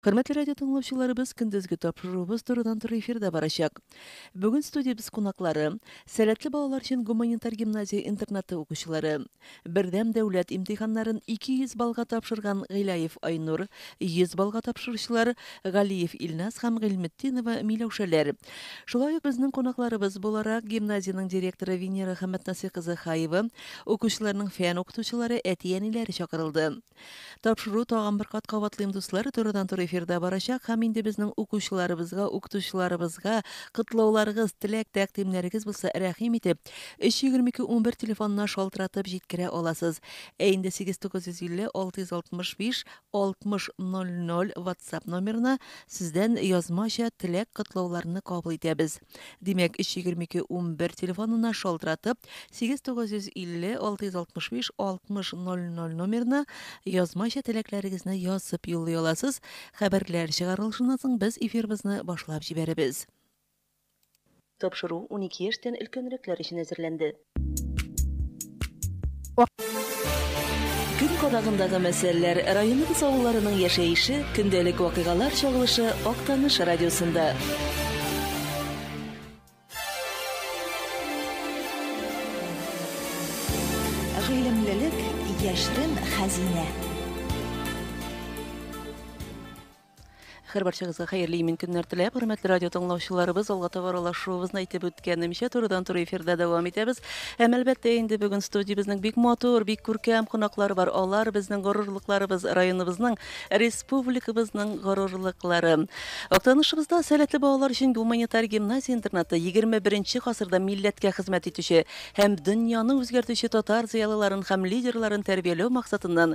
Хөрмәтле радио тыңлаучыларыбыз, көндезге тапшыруыбыз турыдан-туры эфирда барачак. Бүген студиябез кунаклары, Сәләтле балалар өчен гуманитар гимназия интернаты укучылары, Бердәм дәүләт имтиханнарын 200 баллга тапшырган Гыйләев Айнур, 100 баллга тапшыручылар Галиев Илназ һәм Гыйльметдинова Миләүшәләр. Шулай ук безнең кунакларыбыз буларак, гимназиянең директоры Венера Хәмәтнасый кызы Хаева, укучыларның фән укытучылары, әти-әниләре чакырылды. Тапшыру тагын бер кат кабатлыйм, дуслар, турыдан-туры эфирда барачак һәм инде безнең укучыларыбызга, укытучыларыбызга котлауларыгыз, теләк, тәкъдимнәрегез булса, рәхим итеп, 322-11 телефонына шалтыратып җиткерә аласыз. Ә инде 89506656000 WhatsApp номерына сездән язмача теләк, котлауларны кабул итәбез. Димәк, 322-11 телефонына шалтыратып, 895506000 номерына язмача теләкләрегезне язып юллый аласыз. Хәбәрләр чыгарылышыннан соң без эфирыбызны башлап җибәрәбез. Тапшыру унике яшьтән өлкәнрәкләр өчен әзерләнде. Көн кадагындагы мәсьәләләр, районыбыз авылларының яшәеше, көндәлек вакыйгалар чагылышы Актаныш радиосында. Гыйлемлелек, яшьтән хәзинә. Хәр барчагызга хәерле имин көннәр теләп, хөрмәтле радио тыңлаучыларыбыз, алга таба аралашуыбызны әйтеп үткәнемчә, турыдан туры эфирда дәвам итәбез. Һәм әлбәттә инде бүген студиябезнең бик матур, бик күркәм кунаклары бар. Алар безнең горурлыкларыбыз, районыбызның, республикабызның горурлыклары. Актанышыбызда сәләтле балалар өчен гуманитар гимназия-интернаты 21 гасырда милләткә хезмәт итүче һәм дөньяны үзгәртүче татар зыялыларын һәм лидерларын тәрбияләү максатыннан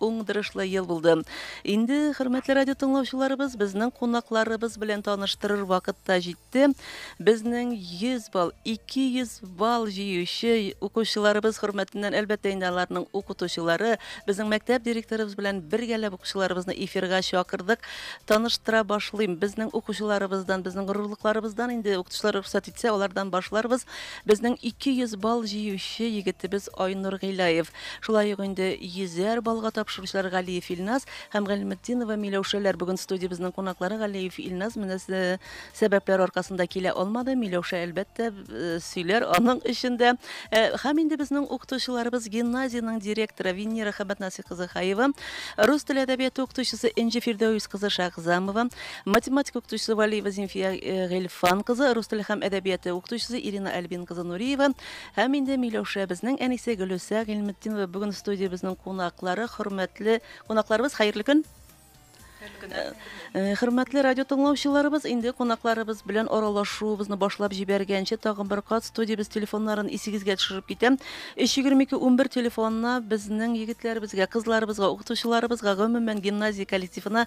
Уңдырышлы ел булды. Инде, хөрмәтле радио тыңлаучыларыбыз, безнең кунакларыбыз белән таныштырыр вакыт та җитте. Безнең 100 балл, 200 балл җыючы укучыларыбыз хөрмәтеннән, әлбәттә, инде аларның укытучылары, безнең мәктәп директорыбыз белән бергәләп укучыларыбызны эфирга чакырдык. Таныштыра башлыйм. Безнең укучыларыбыздан, безнең горурлыкларыбыздан инде укытучылар рөхсәт итсә, алардан башларбыз. Безнең 200 балл җыючы егетебез Айнур Гыйлаев. Шулай ук инде йөзәр баллга тапшыручылар Галиев Илназ һәм Гыйльметдинова Миләүшәләр бүген студиябезнең кунаклары. Галиев Илназ менә сәбәпләр аркасында килә алмады. Миләүшә, әлбәттә, сөйләр аның өчен дә. Һәм инде безнең укытучыларыбыз гимназиянең директоры Венера Хәбәтнасый кызы Хаева, рус теле әдәбияты укытучысы Энҗе Фирдәвис кызы Шәгъзамова, математика укытучысы Валиева Зимфия Гыйльфан кызы, рус теле һәм әдәбияты укытучысы Ирина Альбин кызы Нуриева, Һәм инде Миләүшәбезнең әнисе Гөлүсә Гыйльметдинова бүген студиябезнең кунаклары, хөрмәтле кунакларыбыз, хәерле көн! Хәерле көн! Э, э, хөрмәтле радио тыңлаучыларыбыз, инде кунакларыбыз белән аралашуыбызны башлап җибәргәнче, тагын бер кат студиябез телефоннарын исегезгә төшереп китәм. 322-11 телефонына безнең егетләребезгә, кызларыбызга, укытучыларыбызга, гомумән гимназия коллективына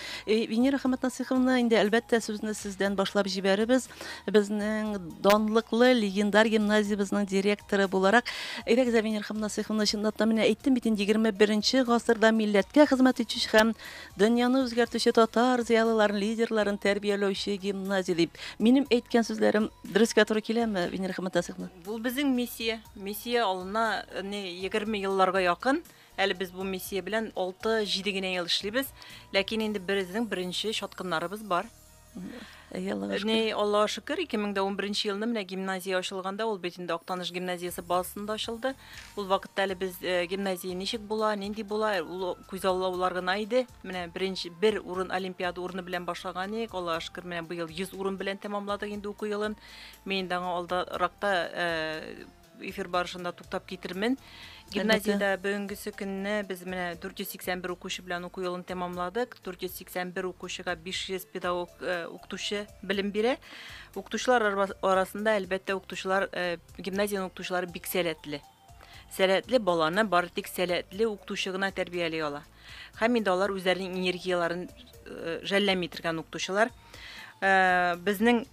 Э, Венера Хаматнасиховна, инде әлбәттә сүзне сездән башлап җибәребез. Безнең данлыклы легендар гимназиябезнең директоры буларак, әйдәгез, Венера Хаматнасиховна, чынлап та менә әйттем бит инде 21 гасырда милләткә хезмәт итүче һәм дөньяны үзгәртүче татар зыялыларын, лидерларын тәрбияләүче гимназия дип. Минем әйткән сүзләрем дөрескә туры киләме, Венера Хаматнасиховна? Бу безнең миссия. Миссия алына не 20 елларга якын. Әле без бу миссия белән алты-җиде генә ел эшлибез, ләкин инде беребезнең беренче чаткыннарыбыз бар. Әйе, Аллага шөкер. Әни, Аллага шөкер, 2011 елны менә гимназия ачылганда, ул бит инде Актаныш гимназиясе базасында ачылды. Ул вакытта әле без э, гимназия ничек була, нинди була, ул күзаллаулар гына иде. Менә беренче бер урын олимпиада урыны белән башлаган идек. Аллага шөкер, менә быел 100 урын белән тәмамладык инде уку елын. Мин инде аңа алдаракта э, Эфир барышында туктап китермен. Гимназиядә бүгенгесе көнне без менә 481 укучы белән уку елын тәмамладык. 481 укучыга 500 педагог э, укытучы белем бирә. Укытучылар арасында әлбәттә укытучылар э, гимназиянең укытучылары бик сәләтле. Сәләтле баланы бары тик сәләтле укытучы гына тәрбияли ала. Һәм инде алар үзләренең энергияләрен э, жәлләми торган укытучылар. Э, безнең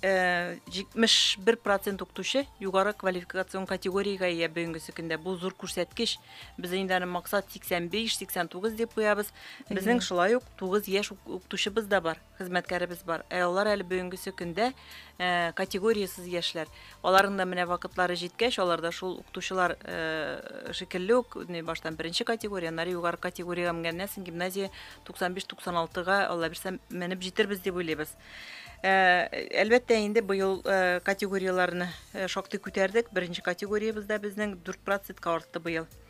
71 э, процент укытучы югары квалификацион категориягә ия бүгенге көндә. Бу зур күрсәткеч. Без инде аны максат 85-89 дип куябыз. Безнең шулай ук 9 яшь укытучыбыз да бар. хезмәткәребез бар. Ә алар әле бүгенгесе көндә э, категориясез яшьләр. Аларның да менә вакытлары җиткәч, алар да шул укытучылар э, шикелле үк, не баштан беренче категория, аннары югары категориягә менгәннән соң гимназия 95-96-га Алла бирсә менеп җитербез дип уйлыйбыз. Э, әлбәттә инде быел э, категорияләрне э, шактый күтәрдек. Беренче категориябездә безнең 4 процентка артты быел.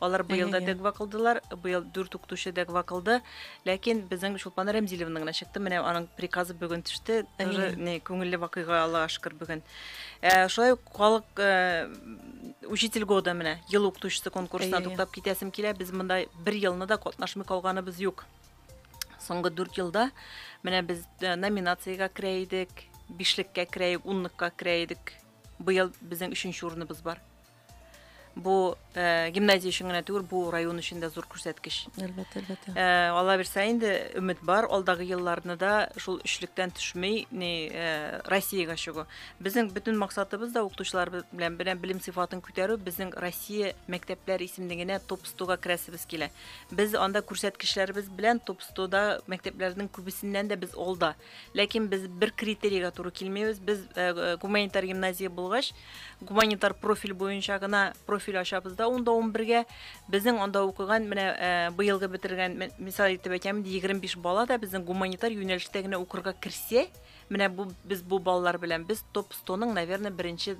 Алар быел да дәгва кылдылар, быел дүрт укытучы дәгва кылды. Ләкин безнең Чулпан Рәмзиловна гына чыкты. Менә аның приказы бүген төште. Тоже не күңелле вакыйга Аллага шөкер бүген. Э, шулай ук халык э, учитель года менә ел укытучысы конкурсына туктап китәсем килә. Без монда бер елны да катнашмый калганыбыз юк. Соңгы дүрт елда менә без э, номинациягә керә идек, бишлеккә керә идек, унлыкка керә идек. Быел безнең өченче урыныбыз бар. Бу э, гимназия өчен генә түгел, бу район өчен дә зур күрсәткеч. Әлбәттә, әлбәттә. Э, Алла бирсә инде өмет бар, алдагы елларны да шул өчлектән төшмей, ни э, Россиягә чыгу. Безнең бөтен максатыбыз да укытучылар белән белән белем сыйфатын күтәрү, безнең Россия мәктәпләр исемлегенә топ 100-га керәсебез килә. Без анда күрсәткечләребез белән топ 100-да мәктәпләрнең күбесеннән дә без алда. Ләкин без бер критерийга туры килмибез. Без гуманитар гимназия булгач, гуманитар профиль буенча гына профиль ачабыз да унда 11-гә. Безнең анда укыган, менә быелгы бетергән, мисал итеп әйтәм, 25 бала да безнең гуманитар юнәлештә генә укырга керсә, менә бу без бу балалар белән без топ 100-ның, наверное, беренче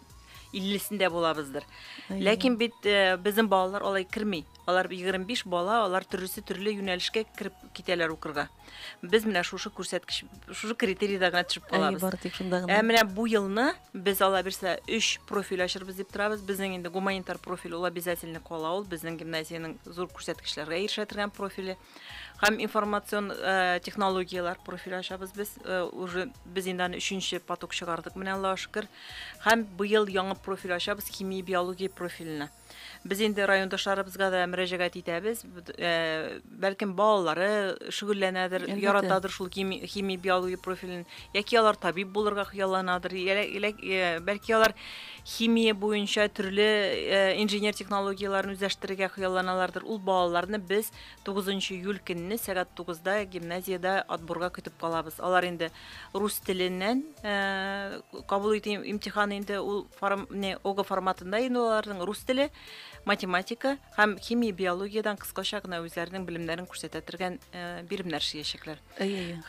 50-сендә булабыздыр. Ләкин бит безнең балалар алай керми. Алар 25 бала, алар төрлесе төрле юнәлешкә кереп китәләр укырга. без менә шушы күрсәткеч шушы критерийда гына төшеп калабыз бары тик шунда гына ә менә бу елны без ала бирсә өч профиль ачырбыз дип торабыз безнең инде гуманитар профиль ул обязательно кала ул безнең гимназиянең зур күрсәткечләргә ирешә торган профиле һәм информацион э, технологияләр профиль ачабыз без э, уже без инде аны өченче поток чыгардык менә аллага шөкер һәм быел яңа профиль ачабыз химия биология профиленә Без инде райондашларыбызга да мөрәҗәгать итәбез. Э, бәлкем балалары шөгыльләнәдер, яратадыр шул хими биология профилен, яки алар табиб булырга хыялланадыр, э, бәлки алар химия буенча төрле э, инженер технологияләрен үзләштерергә хыялланалардыр. Ул балаларны без 9 июль көнне сәгать 9-да гимназиядә отборга көтеп калабыз. Алар инде рус теленнән кабул итү имтиханы инде ул форм, не, ога форматында инде аларның рус теле, математика һәм химия, биологиядән кыскача гына үзләренең белемнәрен күрсәтә торган биремнәр эшләячәкләр.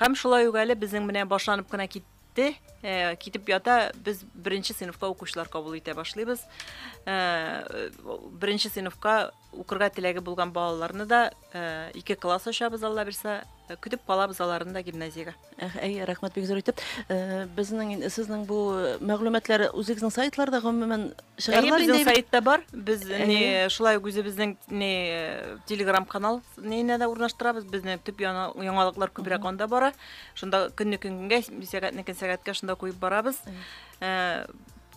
Һәм шулай ук әле безнең менә башланып кына кит китте э, китеп ята без беренче сыйныфка укучылар кабул итә башлыйбыз э, беренче сыйныфка Укырга теләге булган балаларны да ике класс ачабыз, Алла бирсә, көтеп калабыз аларны да гимназиягә. Әй, рәхмәт бик зур итеп. Безнең сезнең бу мәгълүматлар үзегезнең сайтларда гомумән чыгарылар инде. Безнең сайтта бар. Без не шулай ук үзебезнең не Telegram канал ненә дә урнаштырабыз. Безнең төп яңалыклар күбрәк анда бара. Шунда көнне көнгә, сәгатьне көн сәгатькә шунда куеп барабыз.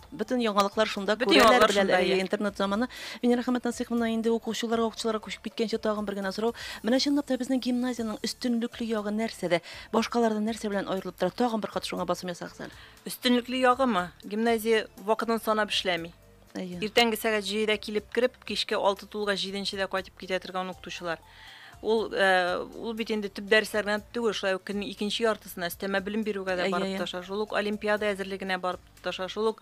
Бөтен яңалыклар шунда күрәләр белән әле интернет заманы. Венера Хәмәт Насыйховна инде укучыларга укучыларга күчеп киткәнче тагын бер генә сорау. Менә чынлап та безнең гимназиянең өстенлекле ягы нәрсәдә? Башкалардан нәрсә белән аерылып тора? Тагын бер кат шуңа басым ясагыз әле. Өстенлекле ягымы? Гимназия вакытын санап эшләми. Әйе. Иртәнге сәгать 7-дә килеп кереп, кичке 6 тулга 7-дә кайтып китә торган укытучылар. Ул э, ул бит инде төп дәресләр генә түгел, шулай ук көннең икенче яртысына өстәмә белем бирүгә дә барып тырыша. Шул ук олимпиада әзерлегенә барып Таша шул ук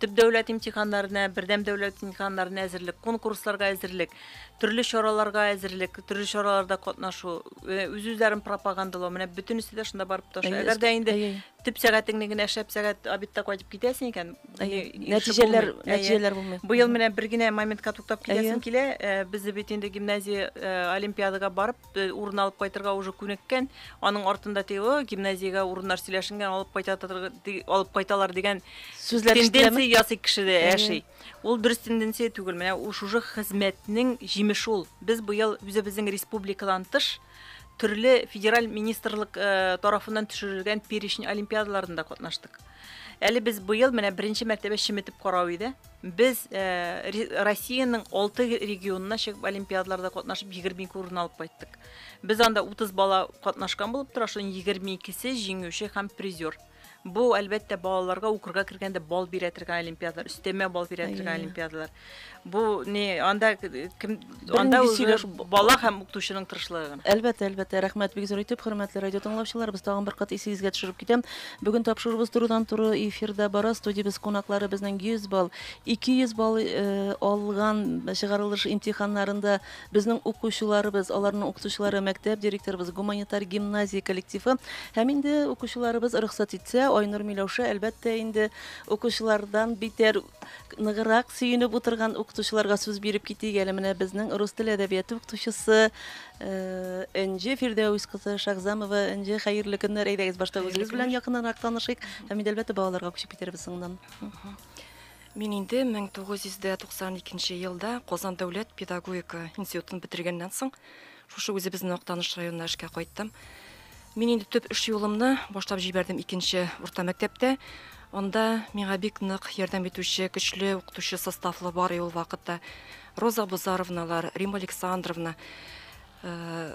төп дәүләт имтиханнарына, бердәм дәүләт имтиханнарына әзерлек, конкурсларга әзерлек, төрле чараларга әзерлек, төрле чараларда катнашу, э, үз-үзләрен пропагандалау, менә бөтенесе дә шунда барып таша. Әгәр дә инде төп сәгатеңне генә шәп сәгать обедта кайтып китәсең икән, нәтиҗәләр нәтиҗәләр булмый. Быел менә бер генә моментка туктап китәсем килә. Э, Безне бит инде гимназия э, олимпиадага барып урын алып кайтырга уже күнеккән аның артында теге гимназиягә урыннар сөйләшенгән алып кайта алып кайталар дигән сүзләр тенденция ясый кешедә яши ул дөрес тенденция түгел менә шушы хезмәтнең җимеше ул без быел үзебезнең республикадан тыш төрле федераль министрлык э, тарафыннан төшерелгән перечень олимпиадаларында катнаштык әле без быел менә беренче мәртәбә чеметеп карау иде Без Россиянең алты регионына чыгып олимпиадаларда катнашып 22 урын алып кайттык. Без анда 30 бала катнашкан булып тора, шуның 22-се җиңүче һәм призер. Бу әлбәттә балаларга укырга кергәндә бал бирә торган олимпиадалар, өстәмә бал бирә торган олимпиадалар. Бу не анда кем Анда Бернинди үзе сөйләшү бу- бала һәм укытучының тырышлыгы гына. Әлбәттә, әлбәттә, рәхмәт бик зур итеп, хөрмәтле радио тыңлаучыларыбыз, тагын бер кат исегезгә төшереп китәм. Бүген тапшыруыбыз турыдан-туры эфирда бара. Студиябез кунаклары безнең 100 балл, 200 балл э, алган чыгарылыш имтиханнарында безнең укучыларыбыз, аларның укытучылары, мәктәп директорыбыз, гуманитар гимназия коллективы. Һәм инде укучыларыбыз рөхсәт итсә, Айнур Миләүшә, әлбәттә, инде укучылардан битәр ныграк сөенеп утырган укытучыларга сүз биреп китик әле менә безнең рус теле әдәбияты укытучысы э, энҗе фирдәүс кызы шагзамова энҗе хәерле көннәр әйдәгез башта үзегез белән якыннанрак танышыйк һәм инде әлбәттә балаларга күчеп китәрбез соңыннан Мин инде 1992 елда Казан дәүләт педагогика институтын бетергәннән соң Шушы үзебезнең Актаныш районына эшкә кайттым. Мин инде төп эш юлымны башлап җибәрдем икенче урта мәктәптә. Анда миңа бик нык ярдәм итүче көчле укытучы составлы бар ул вакытта. Роза Бузаровналар, Рима Александровна, э,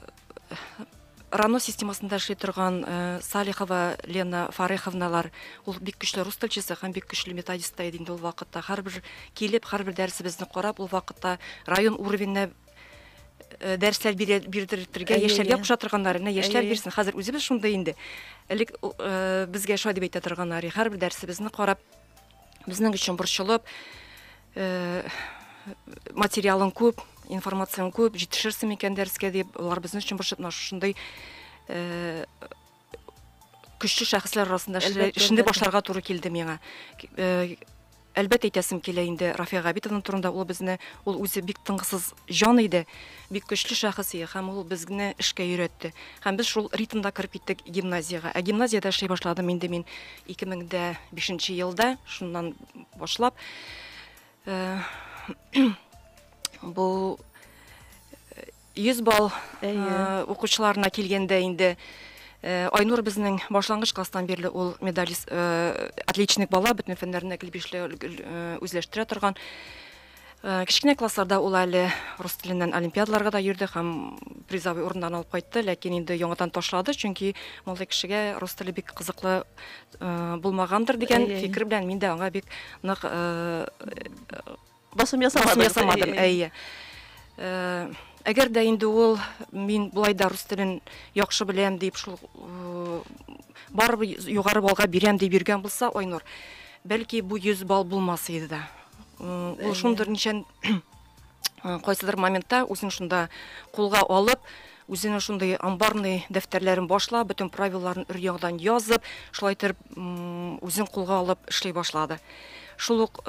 Рано системасында эшли торган э, Салихова Лена Фареховналар, ул бик көчле рус телчесе һәм бик көчле методист та иде инде ул вакытта. Һәрбер килеп, һәрбер дәресебезне карап, ул вакытта район уровеньне Э, дәресләр бирдертергә яшьләргә куша торганнар менә яшьләр бирсен хәзер үзебез шундый инде элек э, безгә шулай дип әйтә торганнар һәрбер дәресебезне карап безнең өчен борчылып э, материалың күп информацияң күп җитешерсең микән дәрескә дип алар безнең өчен борчылып шушындый көчле шәхесләр арасында эшне башларга туры килде миңа. Э, әлбәттә әйтәсем килә инде Рафия Габитовна турында ул безне ул үзе бик тыңгысыз җан иде, бик көчле шәхес иде һәм ул безне эшкә өйрәтте. Һәм без шул ритмда кереп киттек гимназиягә. Ә гимназиядә эшли башладым инде мин 2005 елда, шуннан башлап. Э, бу 100 балл укучыларына килгәндә инде Айнур безнең башлангыч класстан бирле ул медалист, отличник бала, бөтен фәннәрне гел бишле үзләштерә торган. Кечкенә классларда ул әле рус теленнән олимпиадаларга да йөрде һәм призовый урыннарны алып кайтты, ләкин инде яңадан ташлады, чөнки мондый кешегә рус теле бик кызыклы булмагандыр дигән фикер белән мин дә аңа бик нык Басым ясамадым. ясамадым, әйе. Э, әгәр дә инде ул мин болай да рус телен яхшы беләм дип шул э, барыбер югары баллга бирәм дип йөргән булса, Айнур, бәлки бу 100 балл булмас иде дә. Э, ул шундыр ничән кайсыдыр моментта үзен шунда кулга алып, үзенә шундый амбарный дәфтәрләрен башлап, бөтен правиларын өр ягдан язып, шулай итеп үзен кулга алып эшли башлады. Шул ук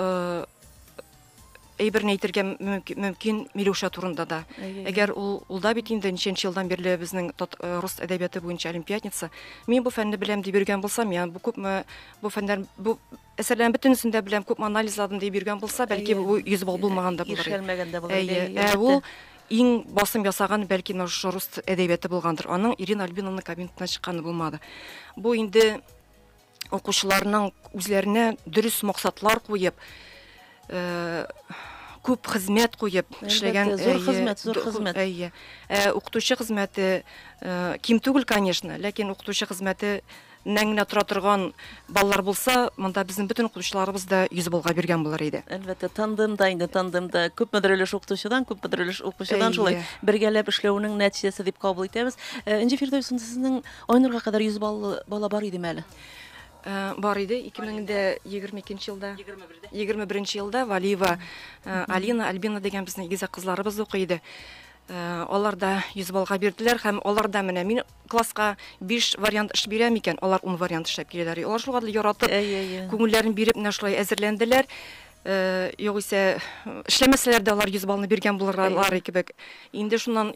әйберне әйтергә мөмкин Милюша турында да. Әгәр ул ул да бит инде ничәнче елдан бирле безнең э, рус әдәбияты буенча олимпиадница. Мин бу фәнне беләм дип йөргән булсам, я бу күпме бу фәннәр бу әсәрләрен бөтенесен дә беләм, күпме анализладым дип йөргән булса, бәлки бу 100 балл булмаган да булыр. Ишелмәгән дә булыр. Әйе, ә ул иң басым ясаган бәлки менә шушы рус әдәбияты булгандыр. Аның Ирина Альбиновна кабинетына чыкканы булмады. Бу инде укучыларның үзләренә дөрес максатлар куеп, э, күп хезмәт куеп эшләгән зур э, хезмәт, зур хезмәт. Әйе. Э, укытучы хезмәте э, ким түгел, конечно, ләкин укытучы хезмәте нәң генә тора торган балалар булса, монда безнең бөтен укытучыларыбыз да йөз булга биргән булыр иде. Әлбәттә, тандемда инде тандемда күпмедер өлеш укытучыдан, күпмедер өлеш укучыдан шулай бергәләп эшләүнең нәтиҗәсе дип кабул итәбез. Энҗе Фирдәүсен сезнең Айнурга кадәр 100 баллы бала бар идеме әле? Бар иде, 2022 елда, 21 елда Валиева Алина, Альбина дигән безнең игезәк кызларыбыз укый иде. Э, алар да 100 баллга бирделәр һәм алар да менә мин класска 5 вариант эш бирәм икән, алар 10 вариант эшләп киләләр. Алар шул кадәр яратып, күңелләрен биреп менә шулай әзерләнделәр. Э, югыйсә эшләмәсәләр дә алар 100 баллны биргән булырлар кебек. Инде шуннан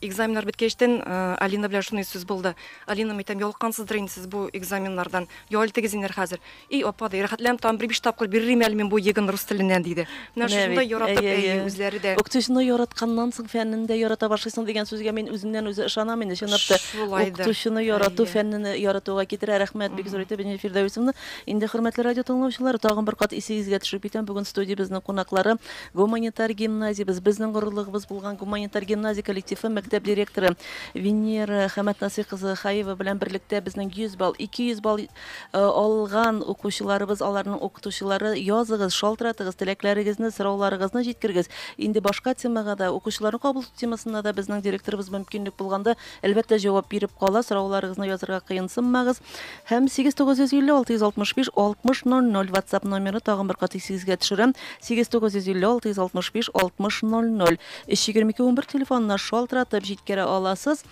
Экзаменнар беткәчтен Алина белән шуный сүз булды. Алина, мәйтәм, ялыккансыздыр инде сез бу экзаменнардан. Ял итегез инер хәзер. И, апа, ди, рәхәтләнеп тагын бер биш тапкыр бирерим әле мин бу егын рус теленнән, диде. Менә шушында яратып, әйе, үзләре дә. Укытучыны яратканнан соң фәннен дә ярата башлыйсың дигән сүзгә мин үземнән үзе ышанам инде, чынлап та. Шулайдыр. Укытучыны ярату фәннене яратуга китерә. Рәхмәт бик зур итеп, Венера Фирдәвесовна. Инде, хөрмәтле радиотыңлаучылар, тагын бер кат исегезгә төшереп китәм, бүген студиябезнең кунаклары, Гуманитар гимназиябез, безнең горурлыгыбыз булган гуманитар гимназия коллективы мәктәп директоры Венера Хәмәтнасый кызы Хаева белән берлектә безнең 100 балл, 200 балл алган укучыларыбыз, аларның укытучылары, языгыз, шалтыратыгыз, теләкләрегезне, сорауларыгызны җиткергез. Инде башка темага да, укучыларны кабул итү темасына да безнең директорыбыз мөмкинлек булганда, әлбәттә, җавап биреп кала, сорауларыгызны язырга кыенсынмагыз. Һәм 8955665 6000 WhatsApp номеры тагын бер кат исегезгә төшерәм. 8955665 6000 32211 телефонына шалтыратып җиткерә аласыз.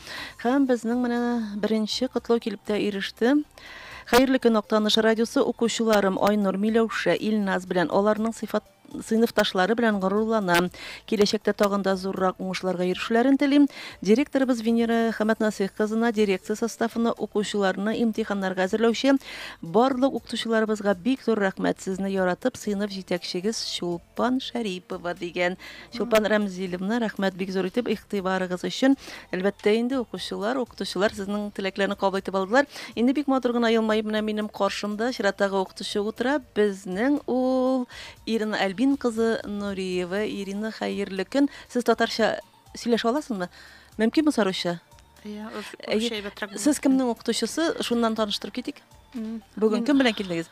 Һәм безнең менә беренче котлау килеп тә иреште. Хәерле көн, Актаныш радиосы укучыларым Айнур Миләүшә, Илназ белән аларның сыйфат сыйныфташлары белән горурлана. Киләчәктә тагын да зуррак уңышларга ирешүләрен телим. Директорыбыз Венера Хәмәтнасыйх кызына, дирекция составына, укучыларны имтиханнарга әзерләүче барлык укытучыларыбызга бик зур рәхмәт, сезне яратып, сыйныф җитәкчегез Чулпан Шәрипова, дигән. Чулпан Рәмзилевна, рәхмәт бик зур итеп игътибарыгыз өчен. Әлбәттә инде укучылар, укытучылар сезнең теләкләрне кабул итеп алдылар. Инде бик матур гына елмаеп менә минем каршымда чираттагы укытучы утыра. Безнең ул Ирина Альбин кызы Нуриева. Ирина, хәерле көн. Сез татарча сөйләшә аласызмы? Мөмкинме саруча? Иә, Сез кемнең укытучысы? Шуннан таныштырып китик. Бүген кем белән килдегез?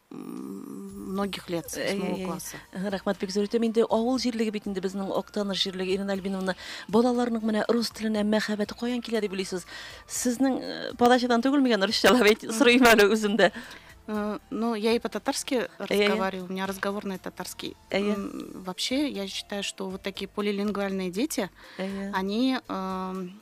многих лет с восьмого класса рәхмәт бик зур итәм инде авыл җирлеге бит инде безнең актаныш җирлеге ирина альбиновна балаларның менә рус теленә мәхәббәте каян килә дип уйлыйсыз сезнең э, подачадан түгелме икән русча әйт сорыйм әле үзем дә э, Ну, я и по-татарски разговариваю, у меня разговорный татарский. Вообще, я считаю, что вот такие полилингвальные дети, они эм,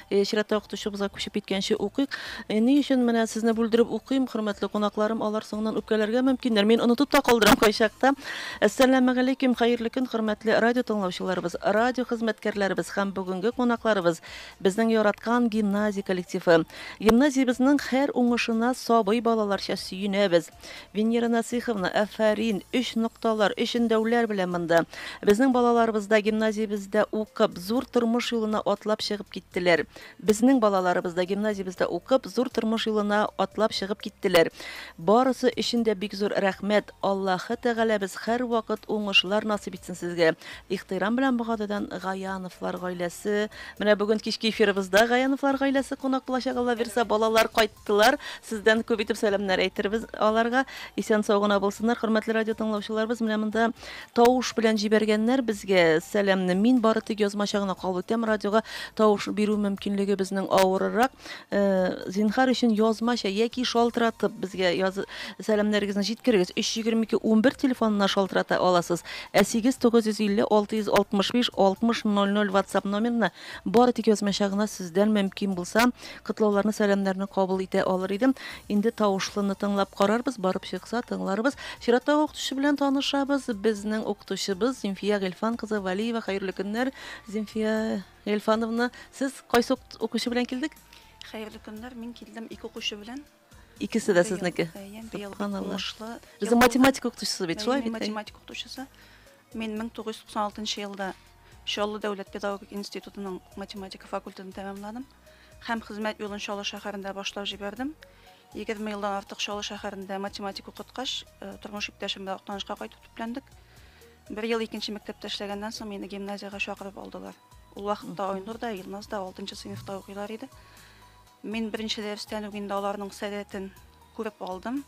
Чиратта укытучыбызга күчеп киткәнче укыйк. Ни өчен менә сезне бүлдереп укыйм, хөрмәтле кунакларым, алар соңыннан үпкәләргә мөмкиннәр. Мин онытып та калдырам кайчакта. Әссәламегаләйкем, хәерле көн, хөрмәтле радио тыңлаучыларыбыз, радио хезмәткәрләребез һәм бүгенге кунакларыбыз, безнең яраткан гимназия коллективы. Гимназиябезнең һәр уңышына сабый балаларча сөенәбез. Венера Насыйховна, афәрин! Өч нокталар, өч өндәүләр белән монда. Безнең балаларыбыз да гимназиябездә укып, зур тормыш юлына атлап чыгып киттеләр. Безнең балаларыбыз да гимназиябездә укып, зур тормыш юлына атлап чыгып киттеләр. Барысы өчен дә бик зур рәхмәт! Аллаһы Тәгаләбез һәрвакыт уңышлар насыйп итсен сезгә! Ихтирам белән Богатыйдан Гаяновлар гаиләсе. Менә бүген кичке эфирыбызда Гаяновлар гаиләсе кунак булачак, Аллабирса, балалар кайт! Тылар, сездән күп итеп сәламнәр әйтербез аларга. Исән сау гына булсыннар, хөрмәтле радио тыңлаучыларыбыз. Менә монда тавыш белән җибәргәннәр безгә сәламне. Мин бары тик язмача гына кабул итәм. Радиога тавыш бирү мөмкинлеге безнең авырырак. Э, зинхар өчен язмача яки шалтыратып безгә яз... сәламнәрегезне җиткерегез. 322 11 телефонына шалтырата аласыз. Ә 8950 665 60 00 WhatsApp номерына бары тик язмача гына сездән мөмкин булса Котлауларны, сәламнәрне кабул итә алыр идем. Инде тавышлыны тыңлап карарбыз, барып чыкса, тыңларбыз. Чираттагы укытучы белән танышабыз. Безнең укытучыбыз Зимфия Гельфан кызы Валиева. Хәерле көннәр, Зимфия Гельфановна. Сез кайсы укытучы белән килдек? Хәерле көннәр, мин килдем ике укучы белән. Икесе дә сезнеке. Субханаллаһ. Безнең математика укытучысы бит, шулай бит? Математика укытучысы. Мин 1996 елда Чаллы дәүләт педагогик институтының математика факультетын тәмамладым һәм хезмәт юлын Чаллы шәһәрендә башлап җибәрдем. 20 елдан артык Чаллы шәһәрендә математика укыткач, э, тормыш иптәшем белән Актанышка кайтып төпләндек. Бер ел икенче мәктәптә эшләгәннән соң мине гимназиягә чакырып алдылар. Ул вакытта Айнур да, Илназ да 6 сыйныфта укыйлар иде. Мин беренче дәрестән үк инде аларның сәләтен күреп алдым.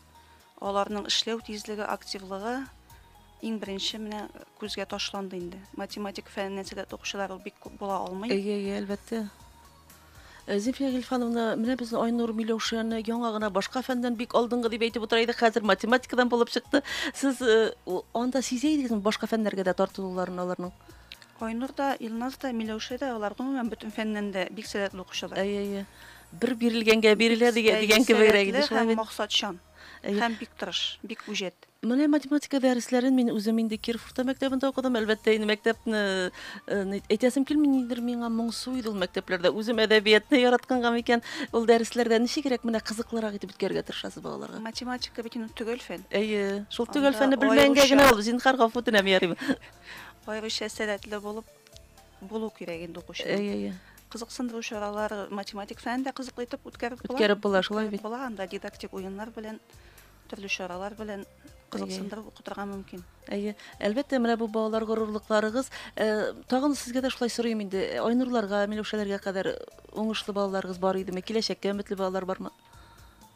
Аларның эшләү тизлеге, активлыгы иң беренче менә күзгә ташланды инде. Математик фәненнән сәләтле укучылар ул бик күп була алмый. Әйе, әйе, әлбәттә. Э, Зифия Гильфановна, менә без Айнур Миләүшәне яңа гына башка фәндән бик алдынгы дип әйтеп утыра идек, хәзер математикадан булып чыкты. Сез э, анда сизә идегезме башка фәннәргә дә тартылуларын аларның? Айнур да, Илназ да, Миләүшә дә, алар, гомумән, бөтен фәннән дә бик сәләтле укучылар. Әйе, әйе. Бер бирелгәнгә бирелә дигән дигән кебегрәк иде шулай бит. Максатчан. Һәм бик тырыш, бик үҗәт. Менә математика дәресләрен мин үзем инде Киров урта мәктәбендә укыдым. Әлбәттә, инде мәктәпне әйтәсем килми, ниндидер миңа моңсу иде ул мәктәпләрдә. Үзем әдәбиятны яратканга микән, ул дәресләрдә ничегрәк менә кызыклырак итеп үткәрергә тырышасыз балаларга? Математика бит инде төгәл фән. Әйе, шул төгәл фәнне белмәгәнгә генә ул, зинһар, гафу үтенәм, ярыймы? Аеруча сәләтле булып булу кирәк инде укучы. Әйе, әйе. Кызыксындыру чаралар математик фән дә кызыклы итеп үткәреп була. Үткәреп була, шулай бит. Була анда дидактик уеннар белән, төрле чаралар белән кызыксындырып укытырга мөмкин. Әйе. Әлбәттә, менә бу балалар горурлыкларыгыз. Э, тагын сезгә дә шулай сорыйм инде. Э, Айнурларга, Миләүшәләргә кадәр уңышлы балаларыгыз бар идеме? Киләчәккә өметле балалар бармы?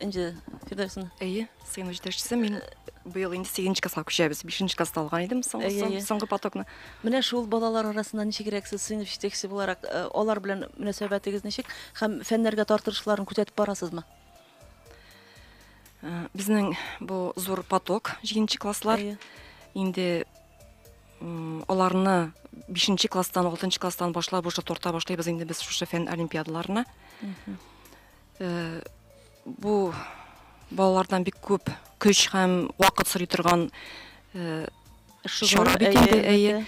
Энҗе Фирдәүсен. Әйе, сыйныф җитәкчесе мин быел инде 8 класска күчәбез. 5 класста алган идем соңгы потокны. Менә шул балалар арасында ничегрәк сез сыйныф җитәкчесе буларак, э, алар белән мөнәсәбәтегез ничек һәм фәннәргә тартырышларын күтәтеп барасызмы? Э, безнең бу зур поток, 7 класслар. Инде аларны бишенче класстан алтынчы класстан башлап уже тарта башлыйбыз инде без шушы фән олимпиадаларына э, бу балалардан бик күп көч һәм вакыт сорый торган э, чара бит инде әйе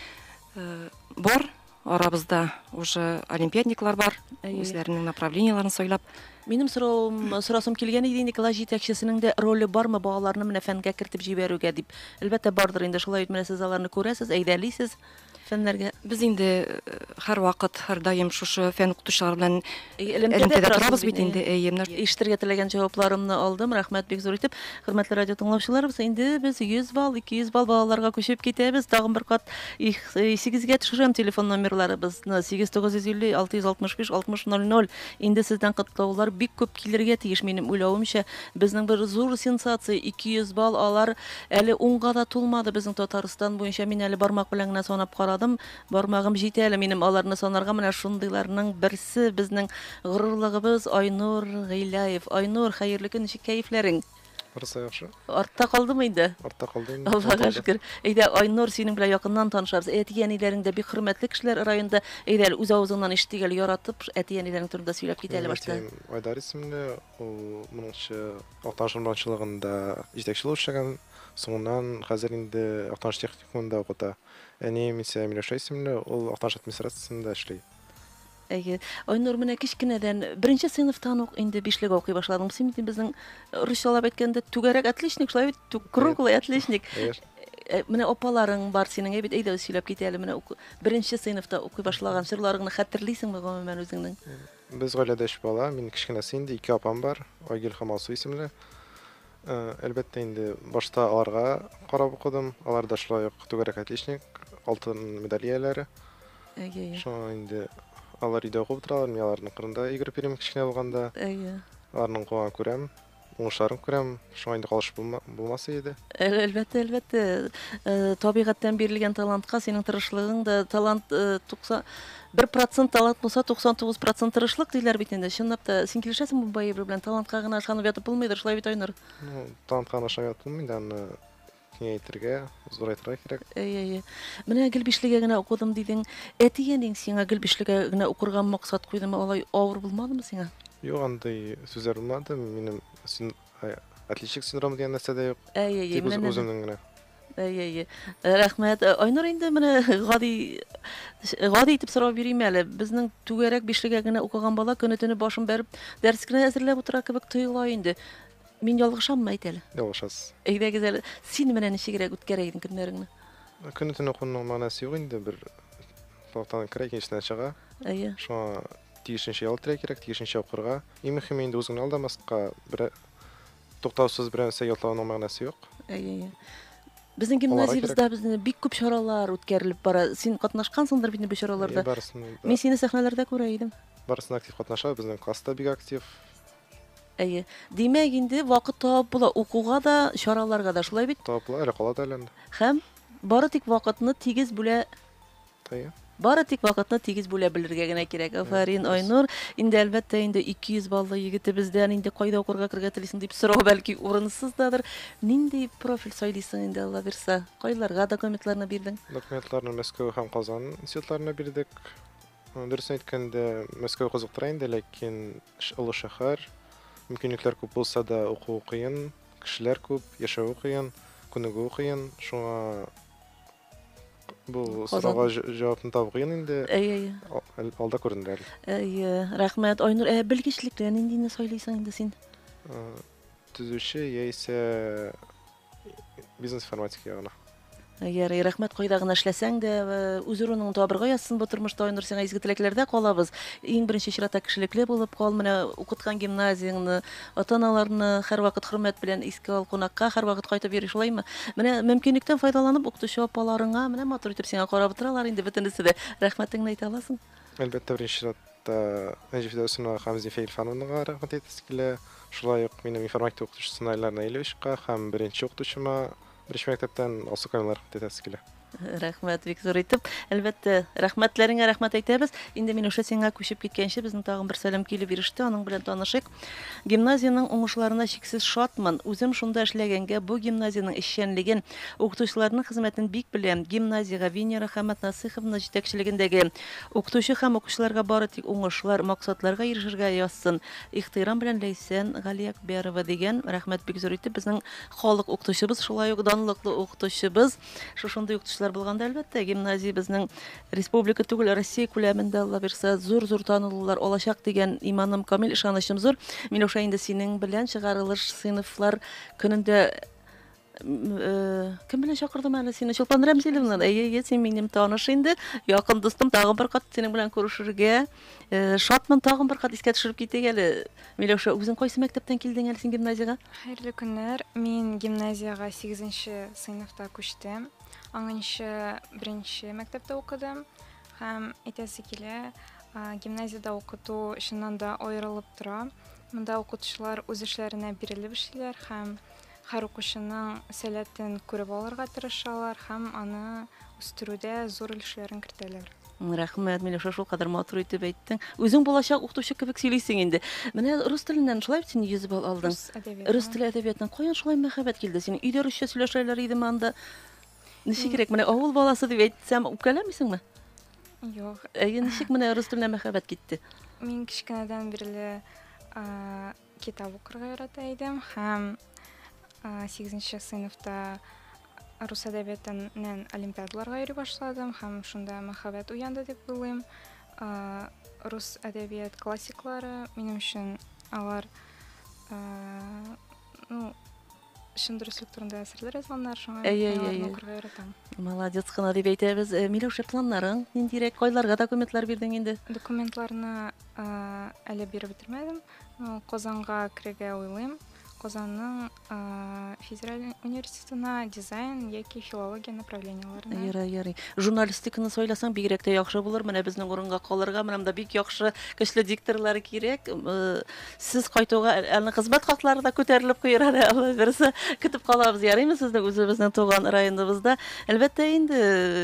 э, бар Арабызда уже олимпиадниклар бар, үзләренең направлениеләрен сайлап. Минем соравым, сорасым килгән иде инде, класс җитәкчесенең дә роле бармы балаларны менә фәнгә кертеп җибәрүгә дип? Әлбәттә, бардыр инде, шулай бит, менә сез аларны күрәсез, әйдәлисез фәннәргә. Без инде һәрвакыт, һәрдаим шушы фән укытучылар белән Элемтәдә торабыз бит инде, әйе, менә. Ишетергә теләгән җавапларымны алдым, рәхмәт бик зур итеп. Хөрмәтле радиотыңлаучыларыбыз, инде без 100 балл, 200 балл балаларга күчеп китәбез. Тагын бер кат исегезгә төшерәм, телефон номерларыбызны, 8950 665 60 00. Инде сездән котлаулар бик күп килергә тиеш, минем уйлавымча. Безнең бер зур сенсация, 200 балл алар. Әле унга да тулмады безнең Татарстан буенча, мин әле бармак белән генә санап карадым, Бармагым җитә әле минем аларны санарга, менә шундыйларның берсе безнең горурлыгыбыз Айнур Гыйляев. Айнур, хәерле көн, ничек кәефләрең? Барысы да яхшы. Артта калдымы инде? Артта калды инде. Аллага шөкер. Әйдә, Айнур, синең белән якыннан танышабыз. Әти-әниләрең дә бик хөрмәтле кешеләр районда. Әйдә әле, үз авызыңнан ишетик әле, яратып, әти-әниләрең турында сөйләп кит әле башта. Минем әтием Айдар исемле, ул моңчы. Актаныш урманчылыгында җитәкче булып эшләгән, соңыннан хәзер инде Актаныш техникумында укыта. Әнием исә Миләүшә исемле, ул Актаныш администрациясендә эшли. Әйе. Айнур, менә кечкенәдән, беренче сыйныфтан ук инде бишлегә укый башладың. Син бит безнең, русчалап әйткәндә, түгәрәк отличник, шулай бит? Тү, круглый отличник. Конечно. Э, менә апаларың бар синең, әй бит, әйдә, үз сөйләп кит әле, менә уку, беренче сыйныфта укый башлаган чорларыңны хәтерлисеңме гомумән үзеңнең? Без гаиләдә өч бала, мин кечкенәсе инде, ике апам бар, Айгөл һәм Алсу исемле. Әлбәттә инде, башта аларга карап укыдым. Алар да шулай ук түгәрәк отличник, алтын медаль ияләре. Әйе. Шуңа инде алар өйдә укып утыралар, мин аларның кырында йөгереп йөрим кечкенә булганда. Әйе. Аларның куа күрәм, уңышларын күрәм, шуңа инде калыш булмас иде. Әлбәттә, әлбәттә, табигатьтән бирелгән талантка синең тырышлыгың да талант 90 Бер процент талант булса, 99 процент тырышлык, диләр бит инде. Чынлап та, син килешәсеңме бу әйбер белән? Талантка гына ышанып ятып булмыйдыр, шулай бит, Айнур? Ну, талантка гына ышанып ятып булмый да, аны киңәйтергә, зурайтырга кирәк. Әйе, әйе. Менә гел бишлегә генә укыдым дидең. Әти-әниң сиңа гел бишлегә генә укырга максат куйдымы? Алай авыр булмадымы сиңа? Юк, андый сүзләр булмады. Минем син... отличник синдромы дигән нәрсә дә юк. Әйе, әйе, Тик менә үземнең генә. Әйе, әйе. Э, Рәхмәт. Э, Айнур инде менә гади э, гади итеп сорау бирим әле. Безнең түгәрәк бишлегә генә укыган бала көне-төне башын бәреп дәрес кенә әзерләп утыра кебек тоела инде. Мин ялгышаммы әйт әле? Ялгышасыз. Әйдәгез әле. Син менә ничегрәк үткәрә идең көннәреңне? Көне төне укуның мәгънәсе юк инде бер тактадан керә, икенчесенә чыга. Әйе. Шуңа тиешенчә ял итәргә кирәк, тиешенчә укырга. Иң мөһиме инде үзеңне алдамаска, берәр Туктаусыз бер нәрсә ятлауның мәгънәсе юк. Әйе, әйе. Безнең гимназиябездә безне бик күп чаралар үткәрелеп бара. Син катнашкансыңдыр бит бу чараларда. Мин сине сәхнәләрдә күрә идем. Барысына актив катнаша, безнең класста бик актив. Әйе. Димәк, инде вакыт табып була укуга да, чараларга да, шулай бит? Табып була, әле кала да әле. Һәм бары тик вакытны тигез бүлә Тая. Бары тик вакытны тигез бүлә белергә генә кирәк. Афәрин, Айнур. Инде әлбәттә инде 200 баллы егетебездән инде кайда укырга кергә телисең дип сорау бәлки урынсыз дадыр. Нинди профиль сайлыйсың инде Алла бирса? Кайларга документларны бирдең? Документларны Мәскәү һәм Казан институтларына бирдек. Дөресен әйткәндә, Мәскәү кызыктыра инде, ләкин олы шәһәр, мөмкинлекләр күп булса да, уку кыен, кешеләр күп, яшәве кыен, күнегүе кыен. Шуңа Бу сорауга җавапны табу кыен инде. Әйе, әйе. Алда күренер әле. Әйе, рәхмәт. Айнур, ә белгечлеккә ниндине сайлыйсың инде син? Төзүче яисә бизнес информатика ягына. Ярый, рәхмәт кайда гына эшләсәң дә, үз урының табырга язсын бу тормышта Айнур, сиңа изге теләкләрдә калабыз. Иң беренче чиратта кешелекле булып кал, менә укыткан гимназияңне Ата-аналарны һәрвакыт хөрмәт белән искә ал, кунакка һәрвакыт кайтып йөри, шулаймы? Менә мөмкинлектән файдаланып, укытучы апаларыңа менә матур итеп сиңа карап утыралар инде бөтенесе дә. Рәхмәтеңне әйтә аласың? Әлбәттә, беренче чиратта Энҗе Фидәүсиновага һәм Зифа Илфановнага рәхмәт әйтәсе килә. Шулай ук минем информатика укытучысына Эльнар Наилевичка һәм беренче укытучыма Беренче мәктәптән алсу камилар тәтәсе килә. Рәхмәт бик зур итеп. Әлбәттә, рәхмәтләреңә рәхмәт әйтәбез. Инде Миләүшә сиңа күчеп киткәнче безнең тагын бер сәлам килеп иреште, аның белән танышыйк. Гимназиянең уңышларына чиксез шатмын. Үзем шунда эшләгәнгә бу гимназиянең эшчәнлеген, укытучыларның хезмәтен бик беләм. Гимназиягә Венера һәм Атнасыйховна җитәкчелегендәге укытучы һәм укучыларга бары тик уңышлар, максатларга ирешергә язсын. Ихтыйрам белән Ләйсән Галиәкбәрова, дигән. Рәхмәт бик зур итеп безнең Халык укытучыбыз, шулай ук данлыклы укытучыбыз. Шушындый укытучылар булганда, әлбәттә, гимназиябезнең республика түгел, Россия күләмендә, Алла бирса, зур-зур танылулар алачак дигән иманым камил, ышанычым зур. Миләүшә, инде синең белән чыгарылыш сыйныфлар көнендә кем белән чакырдым әле сине? Чулпан Рәмзиловна. Әйе, әйе, син минем таныш инде. Якын дустым, тагын бер кат синең белән күрешергә. Шатмын, тагын бер кат искә төшереп китик әле. Миләүшә, үзең кайсы мәктәптән килдең әле син гимназиягә? Хәерле көннәр. Мин гимназиягә 8 нче сыйныфта күчтем. Аңынчы беренче мәктәптә укыдым һәм әйтәсе килә, гимназиядә укыту чыннан да аерылып тора. Монда укытучылар үз эшләренә бирелеп эшлиләр һәм Һәр укучының сәләтен күреп алырга тырышалар һәм аны үстерүдә зур өлешләрен кертәләр. Рәхмәт, Миләүшә, шулкадәр матур итеп әйттең. Үзең булачак укытучы кебек сөйлисең инде. Менә рус теленнән шулай бит син 100 балл алдың. Рус әдәбиятыннан. Рус теле әдәбиятыннан каян шулай мәхәббәт килде синең? Өйдә русча сөйләшәләр идеме анда? Ничегрәк, менә авыл баласы дип әйтсәм, үпкәләмисеңме? Юк. Әйе, ничек менә рус теленә мәхәббәт китте? Мин кечкенәдән бирле Китап укырга ярата идем һәм сигезенче сыйныфта рус әдәбиятыннан олимпиадаларга йөри башладым һәм шунда мәхәббәт уянды дип уйлыйм. Рус әдәбият классиклары минем өчен алар ну чын дөреслек турында әсәрләр язганнар, шуңа аларны укырга яратам. Молодец кына дип әйтәбез. Э, Миләүшә, планнарың ниндирәк? Кайларга документлар бирдең инде? Документларны э, әле биреп бетермәдем. Э, Казанга керергә уйлыйм. Казанның федераль университетына дизайн яки филология направлениеләренә. Ярый, ярый. Журналистиканы сойласаң бигрәк тә яхшы булыр. Менә безнең урынга калырга, менә монда бик яхшы, көчле дикторлар кирәк. Сез кайтуга әле кызмәт хаклары да күтәрелеп куер әле, Алла бирса. Көтеп калабыз, ярыймы, сезне үзебезнең туган районыбызда. Әлбәттә инде,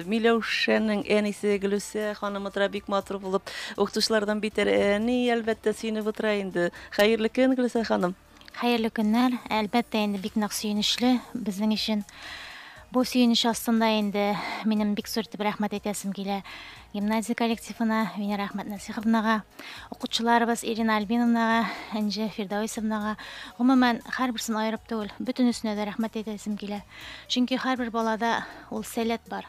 Миләүшәнең әнисе Гөлүсә ханым утыра, бик матур булып, укытучылардан битәр әни, әлбәттә, сөенеп утыра инде. Хәерле көн, Гөлүсә ханым. Хәерле көннәр. Әлбәттә инде, бик нык сөенечле безнең өчен. Бу сөенеч астында инде минем бик зур итеп рәхмәт әйтәсем килә Гимназия коллективына Венера Әхмәтнәсиховнага, укытучыларыбыз Ирина Альбиновнага, Энҗе Фирдәвисовнага, гомумән, һәрберсен аерып түгел, бөтенесенә дә рәхмәт әйтәсем килә. Чөнки һәрбер балада ул сәләт бар.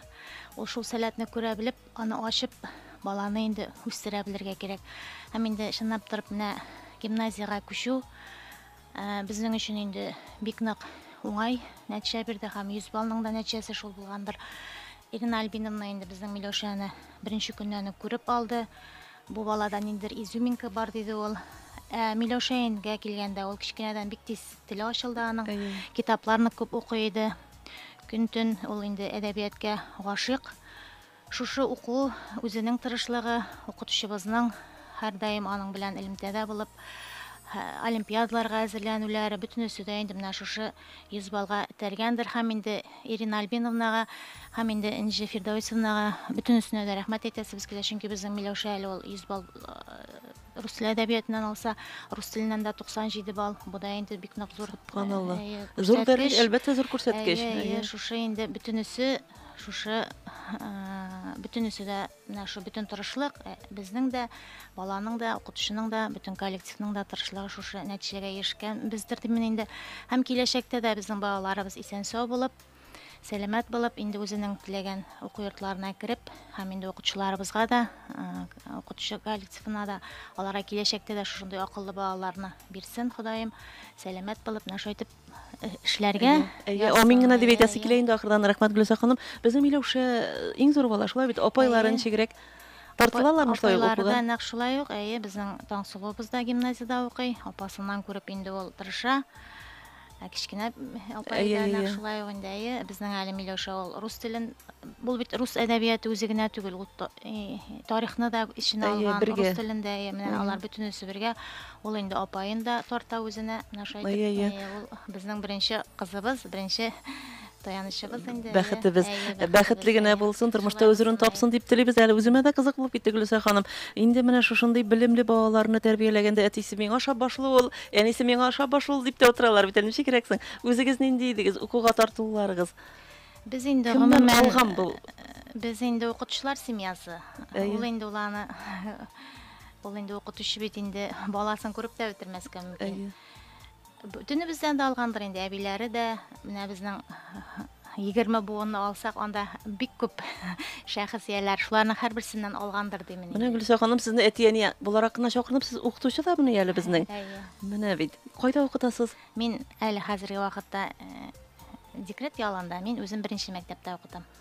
Ул шул сәләтне күрә белеп, аны ачып, баланы инде үстерә белергә кирәк. Һәм инде чынлап торып менә гимназиягә күчү Ә, безнең өчен инде бик нык уңай нәтиҗә бирде һәм 100 баллның да нәтиҗәсе шул булгандыр. Ирина Альбиновна инде безнең Миләүшәне беренче көннән үк күреп алды. Бу балада ниндидер изюминка бар, диде ул. Ә Миләүшәенгә килгәндә, ул кечкенәдән бик тиз теле ачылды аның. Әйе. Китапларны күп укый иде. Көн-төн ул инде әдәбияткә гашыйк. Шушы уку, үзенең тырышлыгы, укытучыбызның һәрдаим аның белән элемтәдә булып, олимпиадаларга әзерләнүләре, бөтенесе дә инде менә шушы 100 баллга этәргәндер һәм инде Ирина Альбиновнага һәм инде Энҗе Фирдәвесовнага бөтенесенә дә рәхмәт әйтәсебез килә, чөнки безнең Миләүшә әле ул 100 балл рус теле әдәбиятыннан алса, рус теленнән дә 97 балл, бу да инде бик нык зур. Субханалла. Зур дәрәҗә, әлбәттә, зур күрсәткеч. Әйе, шушы инде бөтенесе Шушы бөтенесе дә менә шу бөтен тырышлык э, безнең дә баланың да укытучының да бөтен коллективның да тырышлыгы шушы нәтиҗәгә ирешкән бездер димен инде һәм киләчәктә дә безнең балаларыбыз исән сау булып сәламәт булып инде үзенең теләгән уку йортларына кереп һәм инде укытучыларыбызга да укытучы коллективына да аларга киләчәктә дә шушындый акыллы балаларны бирсен ходаем сәламәт булып менә шулай итеп эшләргә. Әйе, амин гына дип әйтәсе килә инде ахырдан. Рәхмәт, Гөлүсә ханым. Безнең Миләүшә иң зур бала, шулай бит, апайлары ничегрәк? Тартылалармы шулай укуга? Апайларда нәкъ шулай ук, әйе, безнең Таңсылуыбыз да гимназиядә укый. Апасыннан күреп инде ул тырыша. Ә кечкенә апай да нәкъ шулай ук инде, әйе, безнең әле Миләүшә ул рус телен, бу бит рус әдәбияты үзе генә түгел, ул тарихны да эченә алган, рус телен дә, әйе, менә алар бөтенесе бергә Ул инде апаен да тарта үзенә, менә шулай Әйе, әйе. итеп. Әйе, ул безнең беренче кызыбыз, беренче таянычыбыз инде. әйе. Бәхетебез Әйе, бәхетебез, бәхетле генә әйе. булсын, тормышта Шулай үз урын булсын, әйе. тапсын дип телибез әле. Үземә дә кызык булып китте, Гөлүсә ханым. Инде менә шушындый белемле балаларны тәрбияләгәндә әтисе миңа ошап башлый ул, әнисе миңа ошап башлый ул дип тә утыралар бит әле. Ничегрәк соң? Үзегез нинди идегез, укуга тартылуларыгыз? Без инде Кемнән гомумән алган бу? Без инде укытучылар семьясы. Әйе. Ул инде ул аны Ул инде укытучы бит инде баласын күреп тә бетермәскә мөмкин. Бөтенебездән дә алгандыр инде әбиләре дә, менә безнең 20 буынны алсак, анда бик күп шәхесияләр, шуларның һәрберсеннән алгандыр димени. Менә Гөлсә ханым сезне әти-әни буларак кына чакырып, сез укытучы да менә әле безнең. Менә бит. Кайда укытасыз? Мин әле хәзерге вакытта э, декрет ялында, мин үзем беренче мәктәптә укытам.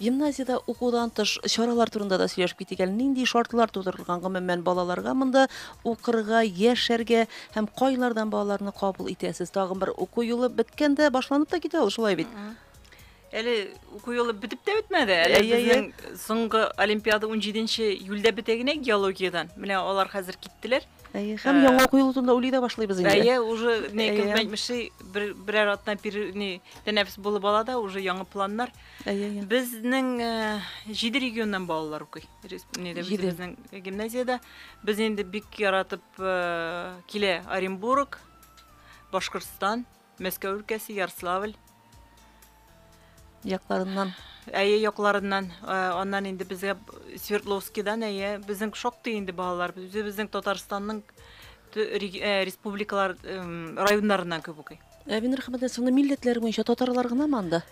Гимназиядә укудан тыш чаралар турында да сөйләшеп китик әле. Нинди шартлар тудырылган гомумән балаларга монда укырга, яшәргә һәм кайлардан балаларны кабул итәсез? Тагын бер уку юлы беткәндә башланып та китә ул, шулай бит. Әле уку юлы бетеп тә бетмәде. Әле Әйе, әйе. безнең соңгы олимпиада 17-нче июльдә бетә генә геологиядән. Менә алар хәзер киттеләр. Әйе, һәм Ә, яңа уку елы турында уйлый да башлыйбыз инде. Әйе, уже не Әйе. кем әйтмешли, бер берәр атна пер не тәнәфес булып ала да, уже яңа планнар. Әйе, әйе. Безнең э, җиде регионнан балалар укый. Рес- Неде Җиде. үзебезнең гимназиядә. Без инде бик яратып э, килә Оренбург, Башкортстан, Мәскәү өлкәсе, Ярославль. Якларыннан. Әйе якларыннан, э, аннан инде безгә Свердловскидан, әйе, безнең шактый инде балалар. Үзебезнең Татарстанның тө- реги- э, республикалар, эм, районнарыннан күп укый. Әбин Рахмәтне соңны милләтләр буенча татарлар гынамы анда?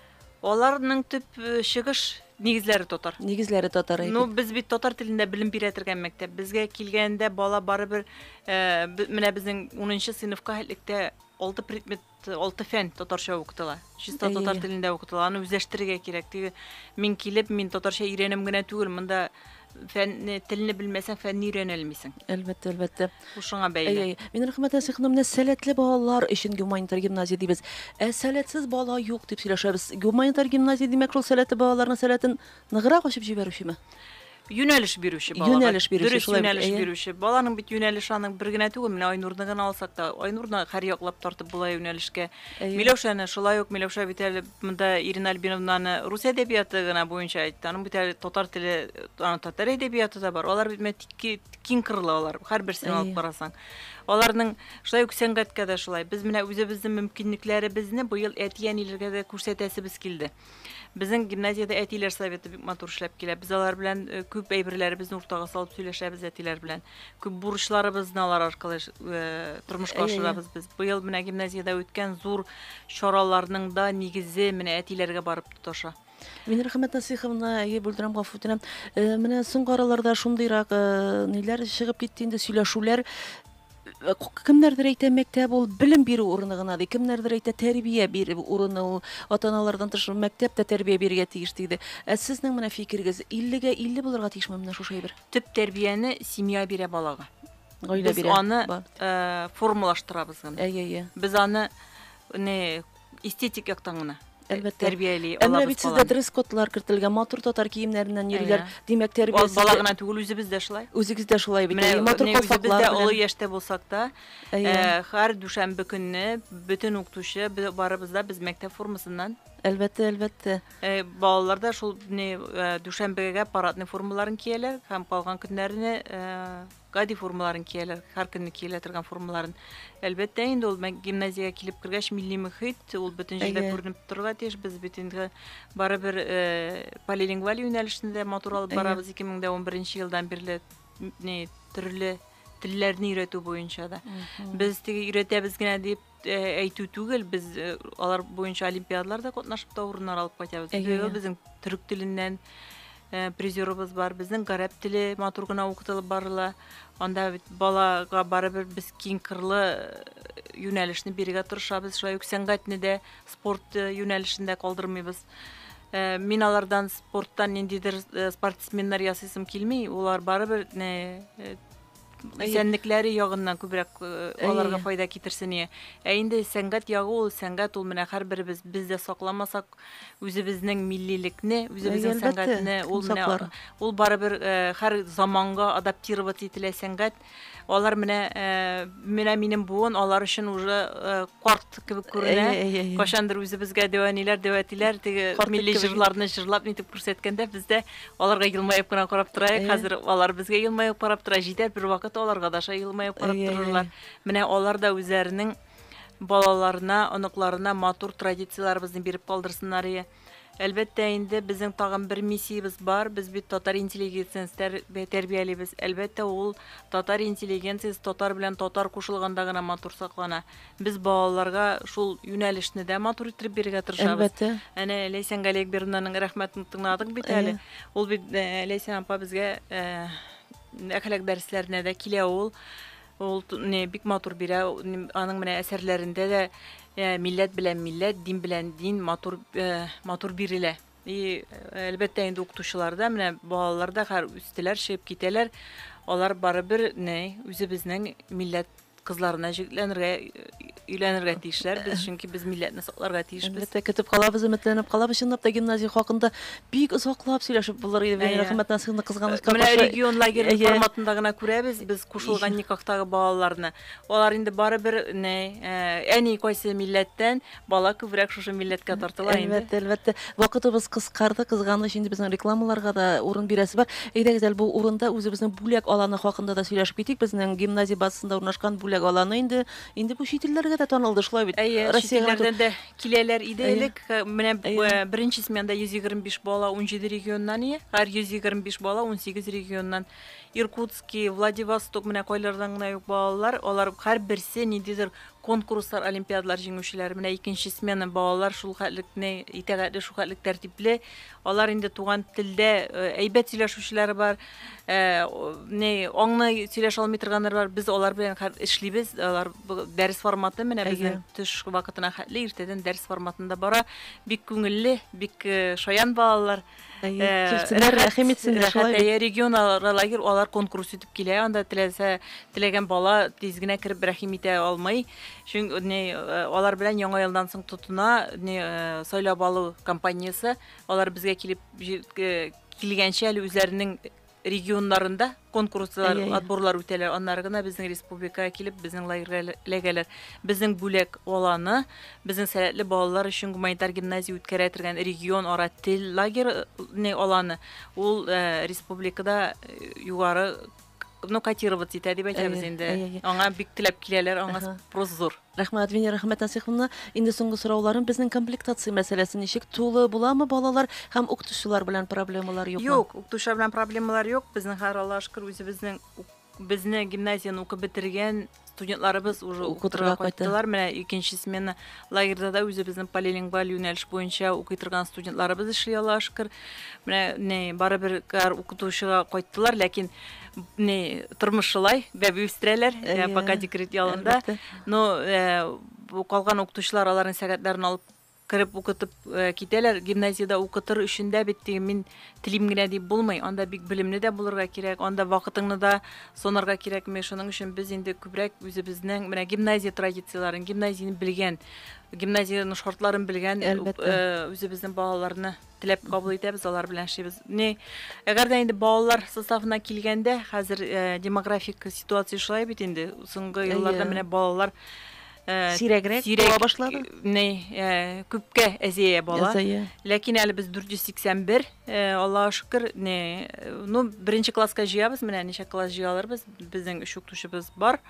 Аларның төп чыгыш нигезләре татар. Нигезләре татар. Ну, без бит татар телендә белем бирә торган мәктәп. Безгә килгәндә бала барыбер э, менә безнең 10нчы сыйныфка һәлектә алты предмет, алты фән татарча укытыла. Чиста татар телендә укытыла. Аны үзләштерергә кирәк. Теге мин килеп, мин татарча өйрәнәм генә түгел, монда фәнне, телне белмәсәң, фәнне өйрәнә алмыйсың. Әлбәттә, әлбәттә. Бу шуңа бәйле. Әй, әй. Мин Рәхмәт Әсих ханым, менә сәләтле балалар өчен гуманитар гимназия дибез. Ә сәләтсез бала юк дип сөйләшәбез. Гуманитар гимназия димәк, шул сәләтле балаларның сәләтен ныграк ачып җибәрүчеме? Юнәлеш бирүче балага. Юнәлеш бирүче, Дөрес шулай бит, юнәлеш әйе. бирүче. Баланың бит юнәлеше аның бер генә түгел. Менә Айнурны гына алсак та, Айнурны һәрьяклап тартып була юнәлешкә. Әйе. Миләүшәне шулай ук, Миләүшә бит әле Монда Ирина Альбиновнаны рус әдәбияты гына буенча әйтте. Аның бит әле татар теле, аның татар әдәбияты да бар. Алар бит менә киң кырлы алар. Һәрберсен алып Әйе. карасаң. Аларның шулай ук сәнгатькә дә шулай. Без менә үзебезнең мөмкинлекләребезне быел әти-әниләргә дә күрсәтәсебез килде. Безнең гимназиядә әтиләр советы бик матур эшләп килә. Без алар белән э, күп әйберләребезне уртага салып сөйләшәбез әтиләр белән. Күп бурычларыбызны алар аркылы тормышка ашырабыз без. Быел менә гимназиядә үткән зур чараларның да нигезе менә әтиләргә барып тоташа. Мин рәхмәт Насыйховна, әйе, бүлдерәм, гафу үтенәм. Э, менә соңгы араларда шундыйрак э, ниләр чыгып китте инде сөйләшүләр э, кемнәрдер әйтә мәктәп ул белем бирү урыны гына ди кемнәрдер әйтә тәрбия бирү урыны ул ата аналардан тыш мәктәп тә тәрбия бирергә тиеш диде ә сезнең менә фикерегез иллегә илле булырга тиешме менә шушы әйбер төп тәрбияне семья бирә балага. Гаилә Без бирә. аны Ба- э, формалаштырабыз гына. Әйе, әйе. Без аны не эстетик яктан гына Әлбәттә. тәрбияли Ә менә алабыз бит сездә баланы. дресс-кодлар кертелгән, матур татар киемнәреннән йөриләр. Әйе. Димәк, Аз бала тәрбиясендә гына түгел, үзебез дә шулай. үзегез дә шулай бит. Менә әйе, матур не үзебез калфаклар дә олы белән. яшьтә булсак та, Әйе. э, һәр дүшәмбе көнне бөтен укытучы бе- барыбыз да без мәктәп формасыннан Әлбәттә, әлбәттә. Балалар да шул дүшәмбегә парадный формаларын кияләр һәм калган көннәрне гади формаларын кияләр, һәр көнне киелә торган формаларын. Әлбәттә, инде ул гимназиягә килеп кергәч, милли мөхит, ул бөтен җирдә күренеп торырга тиеш. Без бит инде барыбер полилингваль юнәлешне дә матур алып барабыз 2011 елдан бирле төрле телләрне өйрәтү буенча да. Без теге өйрәтәбез генә дип әйтү түгел, без э, алар буенча олимпиадаларда катнашып та урыннар алып кайтабыз. Әйе, безнең төрек теленнән э, призерыбыз бар, безнең гарәп теле матур гына укытылып барыла. Анда бит балага барыбер без киң кырлы э, юнәлешне бирергә тырышабыз, шулай ук сәнгатьне дә, спорт юнәлешендә калдырмыйбыз. Мин алардан спорттан ниндидер спортсменнар ясыйсым килми, улар барыбер исәнлекләре ягыннан күбрәк э, аларга файда китерсен ие. Ә инде сәнгать ягы ул сәнгать ул менә һәрберебез без дә сакламасак үзебезнең миллилекне, үзебезнең сәнгатьне ул менә ул барыбер э, һәр заманга адаптироваться ителә сәнгать. Алар менә э, менә минем буын алар өчен уже карт кебек күренә. Кайчандыр үзебезгә дәвәниләр, дәвәтиләр теге милли җырларны җырлап нитеп күрсәткәндә, без дә аларга елмаеп кына карап торайык. Хәзер алар безгә елмаеп карап тора. Җитәр бер вакыт аларга да шулай елмаеп карап торырлар. Менә алар да үзләренең балаларына, оныкларына матур традицияләребезне биреп калдырсыннар ие. Әлбәттә инде, безнең тагын бер миссиябез бар, без бит татар интеллигенциясе тәр, тәрбиялибез. Әлбәттә, ул татар интеллигенциясе татар белән татар кушылганда гына матур саклана. Без балаларга шул юнәлешне дә матур иттереп бирергә тырышабыз. Әлбәттә. Әнә Ләйсән Галиәкбердинаның рәхмәтен тыңладык бит әле. Ул бит э, Ләйсән апа безгә э, әхлак дәресләренә дә килә ул. Ул не бик матур бирә, аның менә әсәрләрендә дә э, милләт белән милләт, дин белән дин матур э, матур бирелә. И әлбәттә инде укытучыларда менә балалар да хәр үстеләр, чыгып китәләр. Алар барыбер не үзебезнең милләт кызларына җирләнергә өйләнергә тиешләр без, чөнки без милләтне сакларга тиешбез. Әлбәттә, көтеп калабыз, өметләнеп калабыз. Чынлап та гимназия хакында бик озаклап сөйләшеп булыр иде. Венера Хәмәтнасыйны кызганычка каршы. Менә регион лагере форматында гына күрәбез без кушылган никахтагы балаларны. Алар инде барыбер әни кайсы милләттән, Бала күбрәк шушы милләткә тартыла инде. Әлбәттә, әлбәттә. Вакытыбыз кыскарды, кызганыч, инде безнең рекламаларга да урын бирәсе бар. Әйдәгез әле бу урында үзебезнең бүләк аланы хакында да сөйләшеп китик. Безнең гимназия базасында урнашкан бүләк аланы инде инде бу чит илләргә дә танылды, шулай бит? Әйе, чит илләрдән дә киләләр иде элек. Менә беренче сменада 125 бала 17 регионнан, һәр 125 бала 18 регионнан. Иркутски, Владивосток, менә кайлардан гына юк балалар, алар һәрберсе ниндидер Конкурслар, олимпиадалар җиңүчеләре, менә икенче смена балалар шулхәтлекне итәгатьле, шулхәтлек тәртипле. Алар инде туган телдә әйбәт сөйләшүчеләр бар, не аңны сөйләшә алмый торганнар бар. Без алар белән эшлибез. Алар дәрес форматы менә безнең төш вакытына хәтле иртәдән дәрес форматында бара. Бик күңелле, бик шаян балалар. Килсеннәр, рәхим итсеннәр, шулай бит. Регион лагерь алар конкурс итеп килә, анда теләсә, теләгән бала тиз генә кереп рәхим итә алмый. Чөнки не алар белән яңа елдан соң тотына, не сайлап алу компаниясе, алар безгә килеп килгәнчә әле үзләренең регионнарында конкурслар, отборлар үтәләр, аннары гына безнең республикага килеп, безнең лагерьга эләгәләр. Безнең бүләк аланы, безнең сәләтле балалар өчен гуманитар гимназия үткәрә торган регион ара тел лагерьны аланы, ул э, республикада э, югары ну котироваться итә дип әйтәбез инде. Аңа бик теләп киләләр, аңа спрос зур. Рәхмәт, Венера Хәмәтнасыйховна. Инде соңгы сорауларым, безнең комплектация мәсьәләсе ничек? Тулы буламы балалар һәм укытучылар белән проблемалар юкмы? Юк, укытучылар белән проблемалар юк. Безнең хәзер Аллага шөкер үзебезнең безне гимназияне укып бетергән студентларыбыз уже укытырга кайттылар. Менә икенче смена лагерьда да үзебезнең полилингваль юнәлеш буенча укый торган студентларыбыз эшли Аллага шөкер. Менә не барыбер укытучыга кайттылар, ләкин не тормыш шулай бәби үстерәләр ә, пока декрет ялында но калган укытучылар аларның сәгатьләрен алып кереп укытып э, китәләр гимназиядә укытыр өчен дә бит теге мин телим генә дип булмый анда бик белемле дә булырга кирәк анда вакытыңны да сонарга кирәкми шуның өчен без инде күбрәк үзебезнең менә гимназия традицияләрен гимназияне белгән гимназиянең шартларын белгән э, үзебезнең балаларны Теләп кабул итәбез, алар белән эшлибез. Ни, әгәр дә инде балалар составына килгәндә, хәзер э, демографик ситуация шулай бит инде. Соңгы елларда менә балалар э, сирәгрәк була башлады. Ни, э, күпкә әзия бала. Ләкин әле без 481, э, Аллаһу шөкер, ни, ну, беренче класска җыябыз, менә ничә класс җыяларбыз, безнең өч укытучыбыз бар.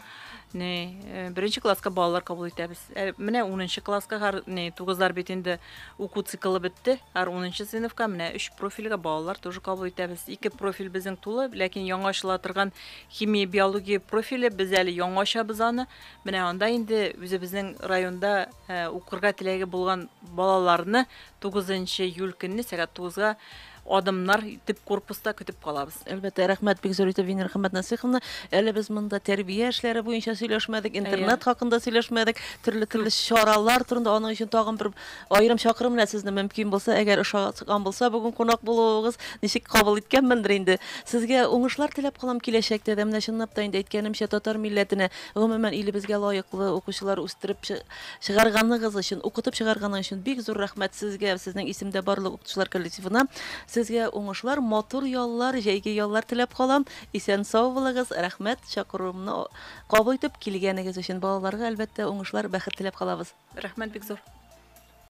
не беренче класска балалар кабул итәбез ә менә унынчы класска не тугызлар бит инде уку циклы бетте ар унынчы сыйныфка менә өч профильгә балалар тоже кабул итәбез ике профиль безнең тулы ләкин яңа ачыла торган химия биология профиле без әле яңа ачабыз аны менә анда инде үзебезнең районда ә, укырга теләге булган балаларны тугызынчы июль көнне сәгать тугызга Адымнар төп корпуста көтеп калабыз. Әлбәттә, рәхмәт бик зур итеп Венера Хәмәтнасыйховна. Әле без монда тәрбия эшләре буенча сөйләшмәдек, интернет хакында сөйләшмәдек, төрле-төрле чаралар турында, аның өчен тагын бер аерым чакырым белән сезне мөмкин булса, әгәр ошаган булса, бүген кунак булуыгыз, ничек кабул иткәнмендер инде. Сезгә уңышлар теләп калам киләчәктә дә. Менә чынлап та инде әйткәнемчә, татар милләтенә, гомумән, илебезгә лаеклы укучылар үстереп Чыгарганыгыз өчен, укытып чыгарганың өчен бик зур рәхмәт сезгә, сезнең исемдә барлык укытучылар коллективына. Сезгә уңышлар, матур яллар, җәйге яллар теләп калам. Исән-сау булыгыз, рәхмәт чакыруымны кабул итеп килгәнегез өчен. Балаларга, әлбәттә, уңышлар, бәхет теләп калабыз. Рәхмәт бик зур.